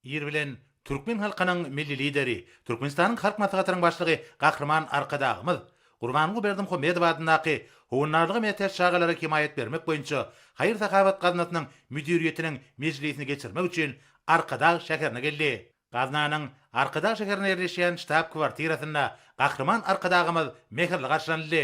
Ir bilen türkmen halkynyň Milli Lideri, Türkmenistanyň Halk Maslahatynyň Başlygy Gahryman Arkadagymyz Gurbanguly Berdimuhamedow adyndaky Howandarlyga mätäç çagalara hemaýat bermek boýunça haýyr-sahawat gaznasynyň müdiriýetiniň mejlisini geçirmek üçin Arkadag şäherine geldi. Gaznanyň Arkadag şäherinde ýerleşýän ştab-kwartirasynda Gahryman Arkadagymyz mähirli garşylanyldy.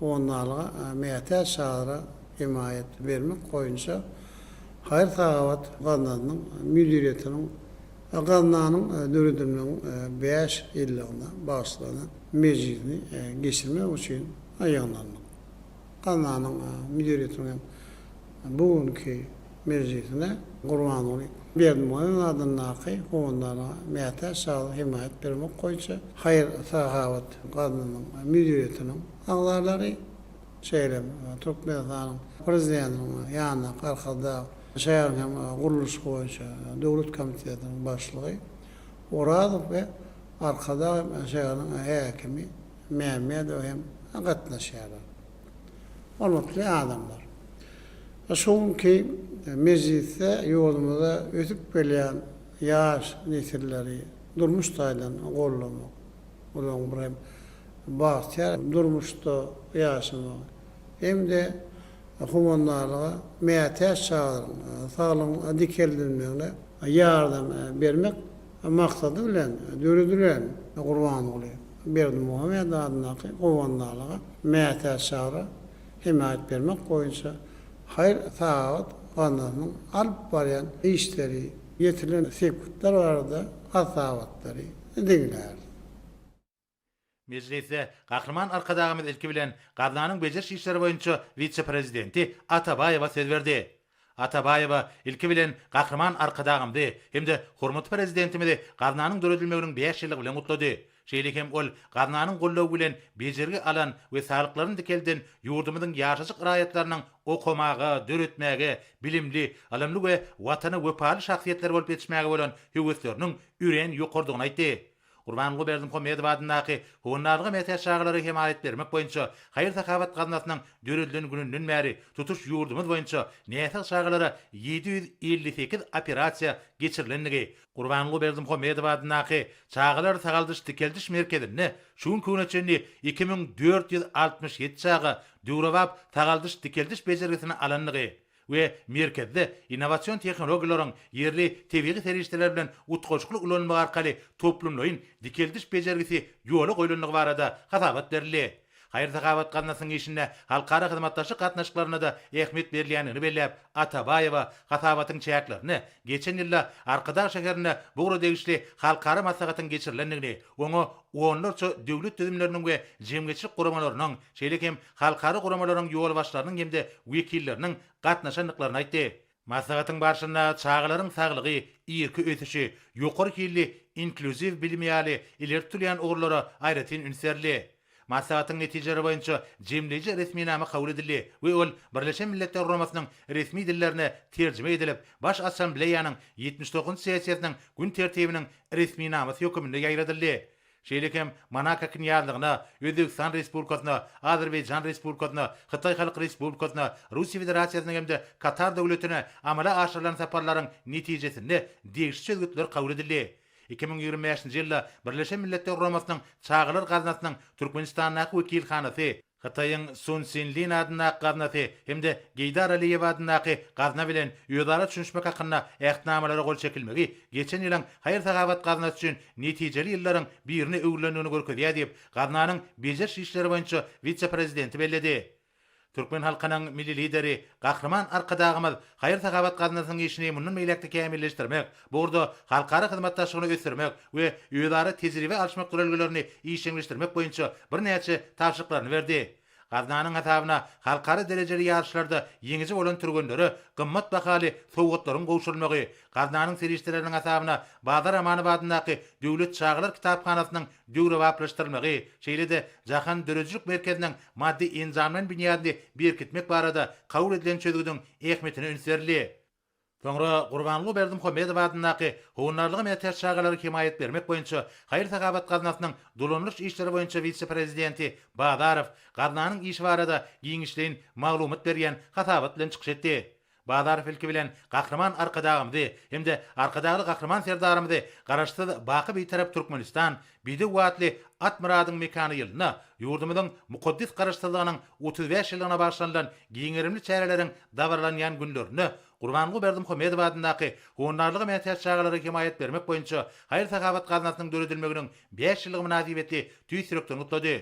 Ondalyga mätäç çadra hemaýat bermek boýunça haýyr-sahawat gaznasynyň müdiriýetiniň gaznanyň döredilmegiň bäş ýyllygyna bagyşlanan mejlisini geçirmek üçin ýygnandyk. Gaznanyň müdiriýetiniň hem bu günki mejlisine Gurbanguly Berdimuhamedowyň adyndaky Howandana mätäç saglyk hemaýat bermek boýunça haýyr-sahawat gaznasynyň müdiriýetiniň agzalary, şeýle hem Türkmenistanyň Prezidentiniň ýanyndaky Arkadag şäher hem gurluşyk boýunça döwlet komitetiniň başlygy Orazow we Arkadag hem şäheriniň häkimi Mämmedow hem gatnaşýarlar. Hormatly adamlar! Şu günki mejlisde ýurdumyzda ösüp gelýän ýaş nesilleri durmuş taýdan goldamak, olaryň bir hem bagtyýar durmuşda ýaşamagy hem-de howandarlyga mätäç çagalaryň saglygynyň dikeldilmegine ýardam bermek, maksady bilen döredilen Gurbanguly Berdimuhamedow adyndaky Howandalyga mätäç şahra hemaýat bermek boýunça haýyr-sahawat gaznasynyň alyp barýan işleri, ýetilen sepgitler barada has-da hasabatlary diňlärsiň. Mejlisde Gahryman Arkadagymyz ilki bilen gaznanyň bejeriş işleri boýunça wise-prezidenti Atabaýewa söz berdi. Atabaýewa ilki bilen Gahryman Arkadagymzy hem-de hormatly Prezidentimizi gaznanyň döredilmeginiň bäş ýyllygy bilen gutlady. Şeýle hem ol gaznanyň goldawy bilen bejergi alan we salyklaryny dikelden ýurdumyzyň ýaşajyk raýatlarynyň okamaga, döretmäge, bilimli, ylymly we Watana wepaly şahsyýetler bolup ýetişmäge bolan höwesleriniň örän ýokarydygyny aýtdy. Gurbanguly Berdimuhamedow adyndaky Honnalyga mätäç çagalara hemaýat bermek boýunça haýyr-sahawat gaznasynyň döredilen gününden bäri tutuş ýurdumyz boýunça näsag çagalara ýedi ýüz elli sekiz operasiýa geçirilendigi, Gurbanguly Berdimuhamedow adyndaky Çagalar sagaldyş-dikeldiş merkezinde şu günki güne çenli iki müň dört ýüz altmyş ýedi çaga döwrebap sagaldyş-dikeldiş bejergisini alandygy, we merkezde innowasion tehnologiýalaryň ýerli tebigy serişdeler bilen utgaşykly ulanylmagy arkaly toplumlaýyn dikeldiş bejergisi ýola goýlandygy barada hasabat berildi. Haýyr-sahawat gaznasynyň işinde halkara hyzmatdaşlyk gatnaşyklaryna-da ähmiýet berilýändigini belläp, Atabaýewa hasabatyň çäklerinde geçen ýylda Arkadag şäherinde bu ugra degişli halkara maslahatyň geçirilendigini, oňa onlarça döwlet düzümleriniň we jemgyýetçilik guramalarynyň, şeýle hem halkara guramalaryň ýolbaşçylarynyň hem-de wekilleriniň gatnaşandyklaryny aýtdy. Maslahatyň barşynda çagalaryň saglygy, irki ösüşi, ýokary hilli inklýuziw bilimi ýaly ileri tutulýan ugurlara aýratyn üns berildi. Maslahatyň netijeleri boýunça jemleýji resminama kabul edildi we ol Birleşen Milletler Guramasynyň resmi dillerine terjime edilip, Baş Assambleýanyň ýetmiş dokuzynjy sessiýasynyň gün tertibiniň resminamasy höküminde ýaýradyldy. şeýle hem Monako Knýazlygyna, Özbegistan Respublikasyna, Azerbaýjan Respublikasyna, Hytaý Halk Respublikasyna, Russiýa Federasiýasyna hem-de Katar Döwletine amala aşyrylan saparlaryň netijesinde degişli çözgütler kabul edildi. Iki müň ýigrimi bäşinji ýylda Birleşen Milletler Guramasynyň Çagalar gaznasynyň Türkmenistandaky wekilhanasy, Hytaýyň Sun Sinlin adyndaky gaznasy hem-de Geýdar Aliýew adyndaky gazna bilen özara düşünişmek hakynda Ähtnamalara gol çekilmegi geçen ýylyň haýyr-sahawat gaznasy üçin netijeli ýyllaryň birine öwrülendigini görkezýär diýip, gaznanyň bejeriş işleri boýunça wise-prezidenti belledi. Türkmen halkynyň Milli Lideri Gahryman Arkadagymyz haýyr-sahawat gaznasynyň işini mundan beýläk-de kämilleşdirmek, Bu ugurda halkara hyzmatdaşlygyny ösdürmek we özara tejribe alyşmak duralgalaryny işjeňleşdirmek boýunça birnäçe tabşyryklaryny berdi. Gaznanyň hasabyna halkara derejeli ýaryşlarda ýeňiji bolan türgenlere gymmat bahaly sowgatlaryň gowşurylmagy, Gaznanyň serişdeleriniň hasabyna Bazar Amanow adyndaky Döwlet çagalar kitaphanasynyň döwrebaplaşdyrylmagy, şeýle-de Jahan döredijilik merkeziniň maddy-enjamlaýyn binýadyny berkitmek barada kabul edilen çözgüdiň ähmiýetine üns berildi. Soňra Gurbanguly Berdimuhamedow adyndaky Howandarlyga mätäç çagalara hemaýat bermek boýunça haýyr-sahawat gaznasynyň dolanylyş işleri boýunça wise-prezidenti Bazarow gaznanyň işi barada giňişleýin maglumat berýän hasabat bilen çykyş etdi. Bazarow ilki bilen Gahryman Arkadagymyzy hem-de Arkadagly Gahryman Serdarymyzy Garaşsyz, baky Bitarap Türkmenistan Bidew Watly Atmyradyň mekany ýylynda ýurdumyzyň mukaddes Garaşsyzlygynyň otuz bäş ýyllygyna bagyşlanylan giň gerimli çäreleriň dabaralanýan günlerinde Gurbanguly Berdimuhamedow adyndaky Honarlyga mätäç çagalara hemaýat bermek boýunça haýyr-sahawat gaznasynyň döredilmeginiň bäş ýyllygy mynasybetli tüýs ýürekden gutlady.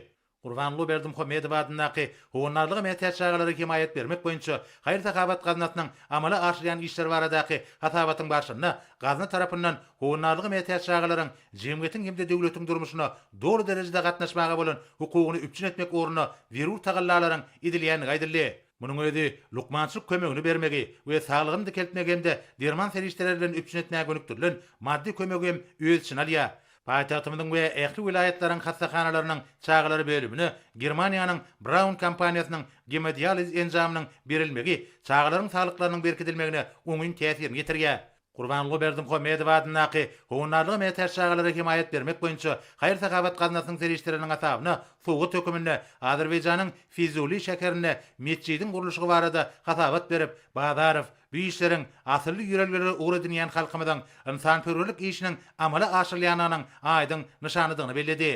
Gurbanguly Berdimuhamedow adyndaky Howandarlyga mätäç çagalara hemaýat bermek boýunça haýyr-sahawat gaznasynyň amala aşyrýan işleri baradaky hasabatyň barşynda gazna tarapyndan Howandarlyga mätäç çagalaryň jemgyýetiň hem-de döwletiň durmuşyna doly derejede gatnaşmaga bolan hukugyny üpjün etmek ugrunda zerur tagallalaryň edilýändigi aýdyldy. Munuň özi lukmançylyk kömegini bermegi we saglygyny dikeltmegi hem-de derman serişdeleri bilen üpjün etmäge gönükdirilen maddy kömegi hem öz içine alýar. Paýtagtymyzyň we ähli welaýatlaryň hassahanalarynyň çagalar bölümine Germaniýanyň Braun kompaniýasynyň gemodializ enjamynyň berilmegi çagalaryň saglyklarynyň berkidilmegine oňyn täsirini ýetirýär. Gurbanguly Berdimuhamedow adyndaky Howandarlyga mätäç çagalara hemaýat bermek boýunça haýyr-sahawat gaznasynyň serişdeleriniň hasabyna sowgat höküminde Azerbaýjanyň Fizuli şäherinde metjidiň gurluşygy barada hasabat berip, Bazarow, Bu işleriň asylly ýörelgelere ugur edinýän halkymyzyň ynsanperwerlik işiniň amala aşyrylýandygynyň aýdyň nyşanydygyny belledi.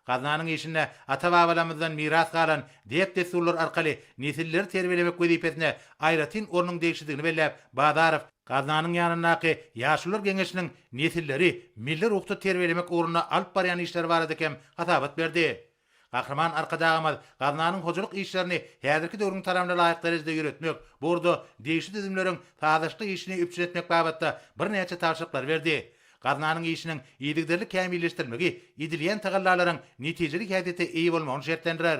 Gaznanyň işinde ata-babalarymyzdan miras galan däp-dessurlar arkaly nesilleri terbiýelemek wezipesine aýratyn ornuň degişlidigini belläp, Bazarow, Gaznanyň ýanyndaky Ýaşulular geňeşiniň nesilleri milli ruhda terbiýelemek ugrunda alyp barýan işleri barada hem hasabat berdi. Gahryman Arkadagymyz gaznanyň hojalyk işlerini häzirki döwrüň talabna laýyk derejede ýöretmek, bu ugurda degişli düzümleriň sazlaşykly işini üpjün etmek babatda birnäçe tabşyryklary berdi. Gaznanyň işiniň yzygiderli kämilleşdirilmegi edilýän tagallalaryň netijeli häsiýete eýe bolmagyny şertlendirer.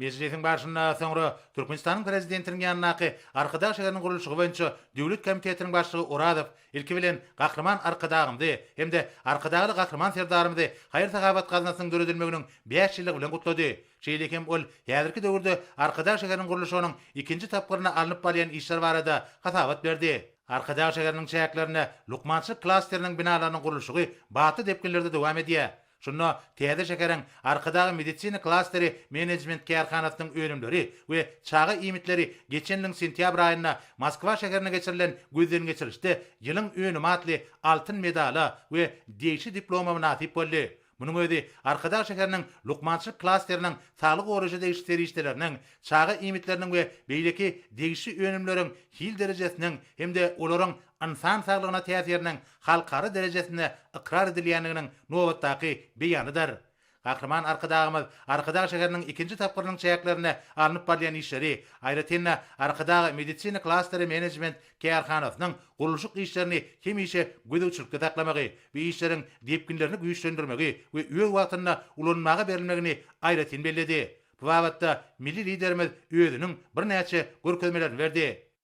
Mejlisiň barşynda soňra Türkmenistanyň Prezidentiniň ýanyndaky Arkadag şäheriniň gurluşygy boýunça döwlet komitetiniň başlygy Orazow Ilki bilen, Gahryman Arkadagymyzy hem-de Arkadagly Gahryman Serdarymyzy haýyr-sahawat gaznasynyň döredilmeginiň bäş ýyllygy bilen gutlady. Şeýle hem ol häzirki döwürde Arkadag şäheriniň gurluşygynyň ikinji tapgyrynda alnyp barylýan işler barada hasabat berdi. Arkadag şäheriniň çäklerinde lukmançylyk klasteriniň binalarynyň gurluşygy batly depginlerde dowam edýär. Şunda täze şäheriň Arkadag medisina klasteri menejment kärhanasynyň önümleri we çaga iýmitleri geçen ýylyň sentýabr aýynda Moskwa şäherinde geçirilen gözdengeçirişde Ýylyň önümi atly altyn medala we degişli diploma mynasyp boldy. Munuň özi Arkadag şäheriniň lukmançylyk klasteriniň saglygy goraýşa degişli serişdeleriniň, çaga iýmitleriniň we beýleki degişli önümleriň hil derejesiniň hem-de olaryň ynsan saglygyna täsiriniň halkara derejesinde ykrar edilýändiginiň nobatdaky beýanydyr. Gahryman Arkadagymyz Arkadag şäheriniň ikinji tapgyrynyň çäklerinde alnyp barylýan işleri, aýratyn-da, Arkadag medisina klasteri menejment kärhanasynyň gurluşyk işlerini hemişe gözegçilikde saklamagy we işleriň depginlerini güýçlendirmegi we öz wagtynda ulanmaga berilmegini aýratyn belledi. Bu babatda milli Liderimiz özüniň birnäçe görkezmelerini berdi.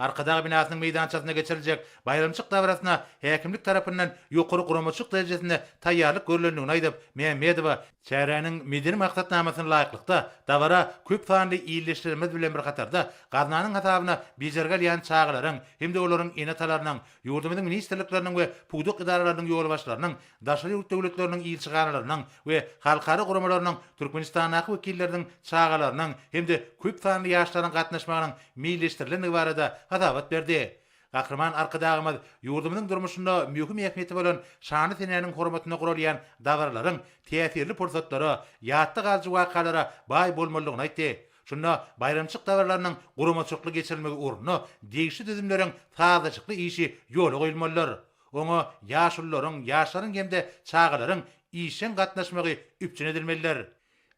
Arkadag binasynyň meýdançasynda geçiriljek baýramçyk dabarasyna häkimlik tarapyndan ýokary guramaçylyk derejesinde taýýarlyk görlendigini aýdyp, Mämmedowa, Çäräniň medeni maksatnamasyna laýyklykda, dabara köp sanly ildeşlerimiz bilen bir hatarda, gaznanyň hasabyna bejergi alýan çagalaryň hem-de olaryň ene-atalarynyň, ýurdumyzyň ministrlikleriniň we pudak edaralarynyň ýolbaşçylarynyň daşary ýurt döwletleriniň ilçihanalarynyň we halkara guramalarynyň Türkmenistandaky wekilleriniň çagalarynyň hem-de köp sanly ýaşlaryň gatnaşmagynyň meýilleşdirilendigi barada hasabat berdi. Gahryman Arkadagymyz ýurdumyzyň durmuşynda möhüm ähmiýeti bolan şanly senäniň hormatyna guralýan dabaralaryň täsirli pursatlara, ýatda galyjy wakalara baý bolmalydygyny aýtdy. Şunda baýramçylyk dabaralarynyň guramaçylykly geçirilmegi ugrunda degişli düzümleriň sazlaşykly işi ýola goýulmalydyr. Oňa ýaşulularyň, ýaşlaryň hem-de çagalaryň işjeň gatnaşmagy üpjün edilmelidir.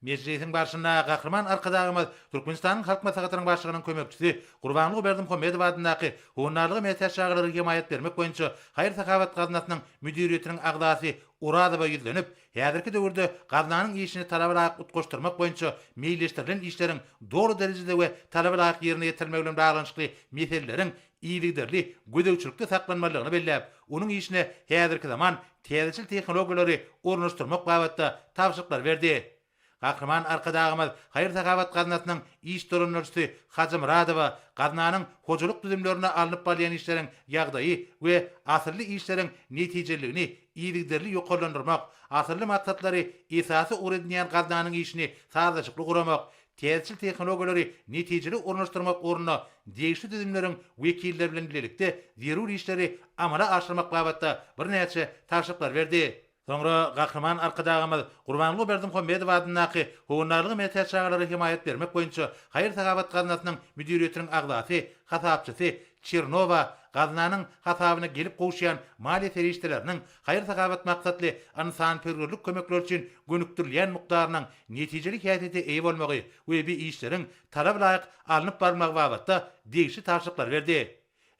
Mejlisiň barşynda Gahryman Arkadagymyz Türkmenistanyň Halk Maslahatynyň Başlygynyň kömekçisi Gurbanguly Berdimuhamedow adyndaky Howandarlyga mätäç çagalara hemaýat bermek boýunça haýyr-sahawat gaznasnyň müdiriýetiniň agzasy Orazowa ýüzlenip, häzirki döwürde gaznanyň işini talaba laýyk utgaşdyrmak boýunça meýilleşdirilen işleriň doly derejede we talaba laýyk ýerine ýetirilmegi bilen baglanyşykly meseleleriň yzygiderli gözegçilikde saklanmalydygyny belläp, onuň işine häzirki zaman täzeçil tehnologiýalary ornaşdyrmak babatda tabşyryklary berdi. Gahryman Arkadagymyz haýyr-sahawat gaznasynyň iş dolandyryjysy Hajymyradowa gaznanyň hojalyk düzümlerinde alnyp barylýan işleriň ýagdaýy we asylly işleriň netijeliligini yzygiderli ýokarlandyrmak, asylly maksatlary esasy ugur edinýän gaznanyň işini sazlaşykly guramak, täzeçil tehnologiýalary netijeli ornaşdyrmak ugrunda degişli düzümleriň wekilleri bilen bilelikde zerur işleri amala aşyrmak babatda birnäçe tabşyryklar berdi. Soňra Gahryman Arkadagymyz Gurbanguly Berdimuhamedow adyndaky Howandarlyga mätäç çagalara hemaýat bermek boýunça haýyr-sahawat gaznasynyň müdiriýetiniň agzasy, hasapçysy Çernowa gaznanyň hasabyna gelip gowuşýan maliýe serişdeleriniň haýyr-sahawat maksatly ynsanperwerlik kömekleri üçin gönükdirilýän mukdarynyň netijeli häsiýete eýe bolmagy we bi işleriň talaba laýyk alnyp barylmagy babatda degişli tabşyryklary berdi.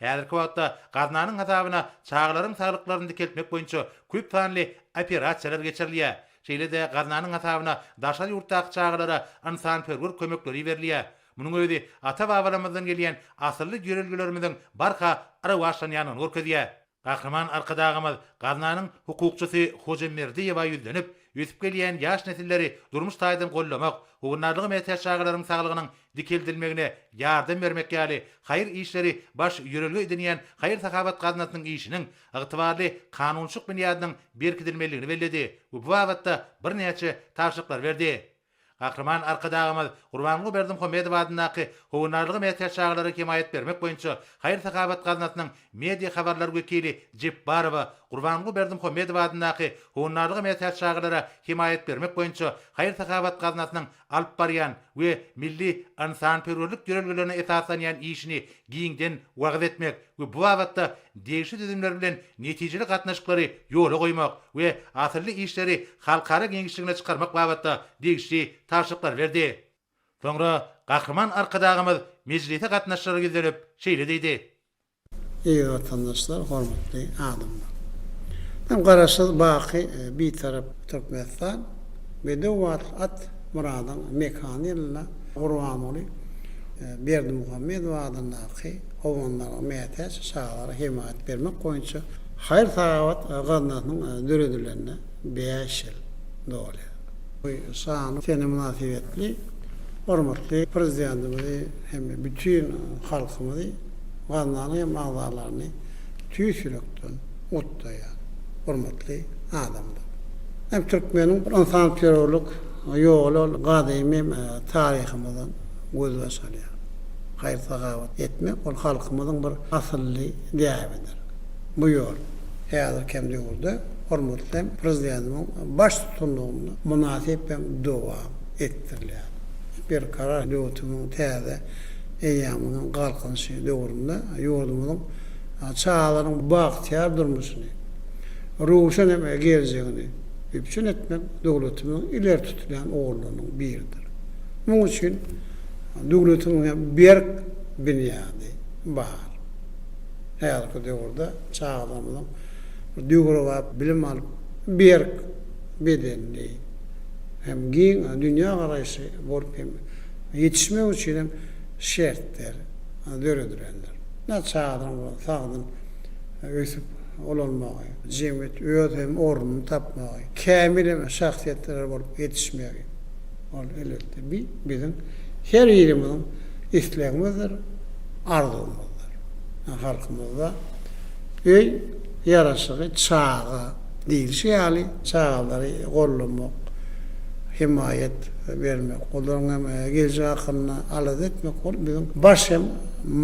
Häzirki wagtda gaznanyň hasabyna çagalaryň saglyklaryny dikeltmek boýunça köp sanly operasiýalar geçirilýär, şeýle-de gaznanyň hasabyna daşary ýurtdaky çagalara ynsanperwer kömekleri iberilýär, munuň özi ata-babalarymyzdan gelýän asylly ýörelgelerimiziň barha rowaçlanýandygyny görkezýär. Gahryman Arkadagymyz gaznanyň hukukçysy Hoja Merdiýewa ýüzlenip, ösüp gelýän ýaş nesilleri durmuş taýdan goldamak, howandarlyga mätäç çagalaryň saglygynyň dikeldilmegine ýardam bermek ýaly haýyr işleri baş ýörelge edinýän haýyr-sahawat gaznasynyň işiniň ygtybarly kanunçylyk binýadynyň berkidilmelidigini belledi we bu babatda birnäçe tabşyryklar berdi. Gahryman Arkadagymyz Gurbanguly Berdimuhamedow adyndaky Howandarlyga mätäç çagalara hemaýat bermek boýunça haýyr-sahawat gaznasynyň media habarlar wekili Jepbarowa Gurbanguly Berdimuhamedow adyndaky Howandarlyga mätäç çagalara hemaýat bermek boýunça haýyr-sahawat gaznasynyň alyp barýan we milli ynsanperwerlik ýörelgelerine esaslanýan işini giňden wagyz etmek we bu babatda degişli düzümler bilen netijeli gatnaşyklary ýola goýmak we asylly işleri halkara giňişligine çykarmak babatda degişli tabşyryklary berdi. Soňra Gahryman Arkadagymyz mejlise gatnaşyjylara ýüzlenip, şeýle diýdi. Eziz Watandaşlar, hormatly adamlar! Men Garaşsyz, baky Bitarap Türkmenistan we döwbatly at Myradyň mekany ýylynda Gurbanguly Berdimuhamedow adyndaky, oglanlara mätäç çagalara hemaýat bermek boýunça haýyr-sahawat gaznasynyň döredilenine bäş ýyl dolýar. Bu şanly sene mynasybetli hormatly Prezidentimizi hem bütin halkymyzy, gaznanyň hem agzalaryny tüýs ýürekden gutlaýan hormatly adamdyr. Hem türkmeniň ynsanperwerlik ýoly ol gadymy taryhymyzdan gözbaş alýar. haýyr-sagawat etmek ol halkymyzyň bir asylly däbidir. Bu ýol häzirki hem döwürde hormatly hem Prezidentimiň baştutanlygynda mynasyp hem dowam etdirilýär. Berkarar döwletimiziň täze eýýamynyň Galkynyşy döwründe ýurdumyzyň çagalarynyň bagtyýar durmuşyny, röwşen hem geljegini üpjün etmek döwletimiziň ileri tutulýan ugurlarynyň biridir. Munuň üçin Döwletiň hem berk binýady bar. Häzirki döwürde çagalarymyzyň döwrebap bilim alyp, berk bedenli hem giň dünýägaraýyşly bolup hem ýetişmegi üçin hem şertler döredilendir. Näçe çagalaryň bolsa sagdyn ösüp ulalmagy, jemgyýetde öz hem ornuny tapmagy, kämil hem şahsyýetler bolup ýetişmegi. Ol elbetde bi, biziň her birimiziň islegimizdir, arzuwymyzdyr. Ýa halkymyzda öý ýaraşygy çaga diýlişi ýaly, çagalary gollamak, hemaýat bermek, olaryň hem geljek hakynda alada etmek, ol biziň baş hem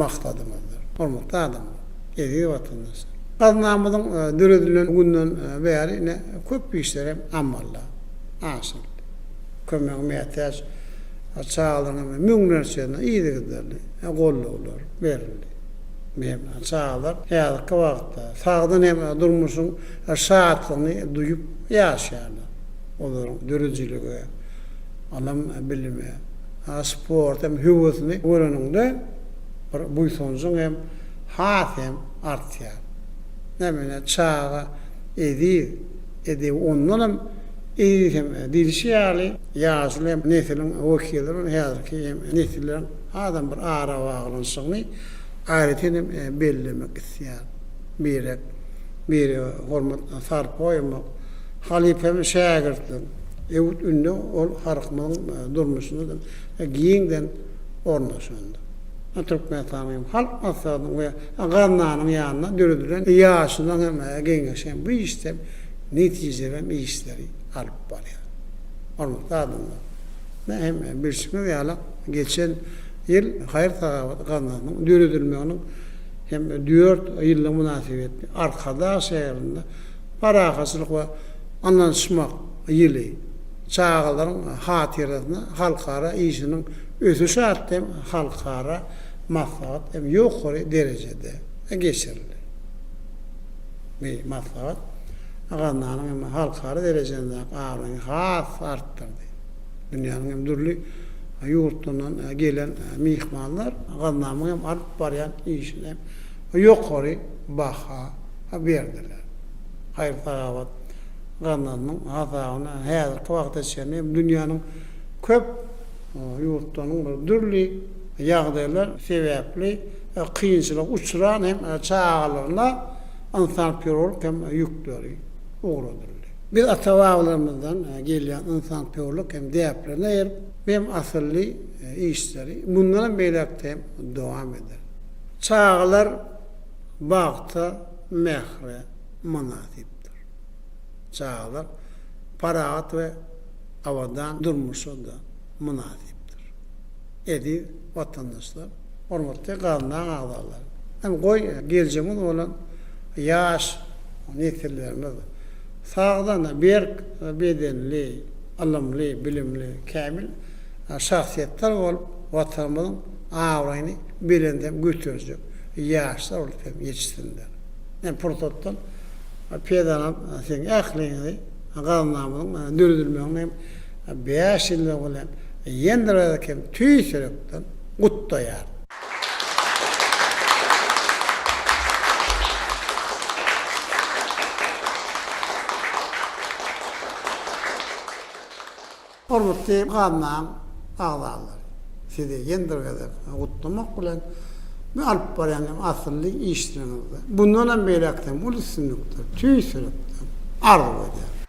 maksadymyzdyr. Hormatly adamlar, eziz watandaşlar! Gaznamyzyň döredilen günden bäri ine köp işler hem amala aşyryldy. kömege mätäç çagalaryň müňlerçesine yzygiderli gollawlar berildi. Hem çagalar häzirki wagtda sagdyn hem durmuşyň şatlygyny duýup ýaşaýarlar. Olaryň döredijilige, ylym, bilime, sporta hem höwesini göreniňde bir buýsanjyň hem has hem artýar. Näme ine çaga eziz. Edebi ondan hem eýsem, diýlişi ýaly, ýaşuly hem nesiliň wekili bolan häzirki hem nesilleriň hasam bir arabaglanyşygyny aýratyn hem bellemek isleýärin. Birek, birege hormat sarp goýmak, halypam-şägirtlik, öwüt-ündew ol halkymyzyň durmuşynda giňden ornaşandyr. Türkmenistanyň hem Halk Maslahatynyň we Gaznanyň ýanynda döredilen ýaşulyň hem geňeşi hem bu işden netijeli hem işleri alyp barýar. Hormatly adamlar! Ine hem bilşimiz ýaly geçen ýyl haýyr-sahawat gaznasynyň döredilmeginiň hem dört ýyllygy mynasybetli Arkadag şäherinde Parahatçylyk we ynanyşmak ýyly, çagalaryň hatyrasyna halkara işiniň ösüşi atly hem halkara Maslahat hem ýokary derejede geçirildi. Bu maslahat Gazananyň hem halkara derejesindäki abraýyny has artdyrdy. Dünýäniň hem dürli ýurtlaryndan gelen myhmanlar Gazananyň hem alyp barýan işine ýokary baha berdiler. Haýyr-sahawat Gazananyň hasabyna häzirki wagta çenli hem dünýäniň köp ýurtlarynyň dürli ýagdaýlar sebäpli kynçylyga uçran hem çagalaryna ynsanperwerlik hem ýükleri ugradyldy. Biz ata-babalarymyzdan gelýän ynsanperwerlik hem däplerine eýerip, bu hem asylly işleri mundan hem beýläk-de hem dowam ederis. Çagalar bagta, mähre mynasypdyr. Çagalar parahat we abadan durmuşa-da. mynasypdyr. Eziz watandaşlar, hormatly Gaznaň agzalary, hem goý geljegimiz bolan ýaş nesillerimiz sagdyn, berk bedenli, ylymly, bilimli, kämil şahsyýetler bolup, Watanymyzyň abraýyny belende göterjek ýaşlar bolup hem ýetişsinler. Men pursatdan peýdalanyp siziň ähliňizi Gaznamyzyň döredilmeginiň hem Bäş ýyllygy bilen ýene-de bir gezek hem tüýs ýürekden gutlaýaryn. Hormatly gaznaň agzalary, sizi ýene-de bir gezek gutlamak bilen, bu alyp barýan asylly işleriňizde mundan hem beýläk hem uly üstünlikleri tüýs ýürekden arzuw edýärin.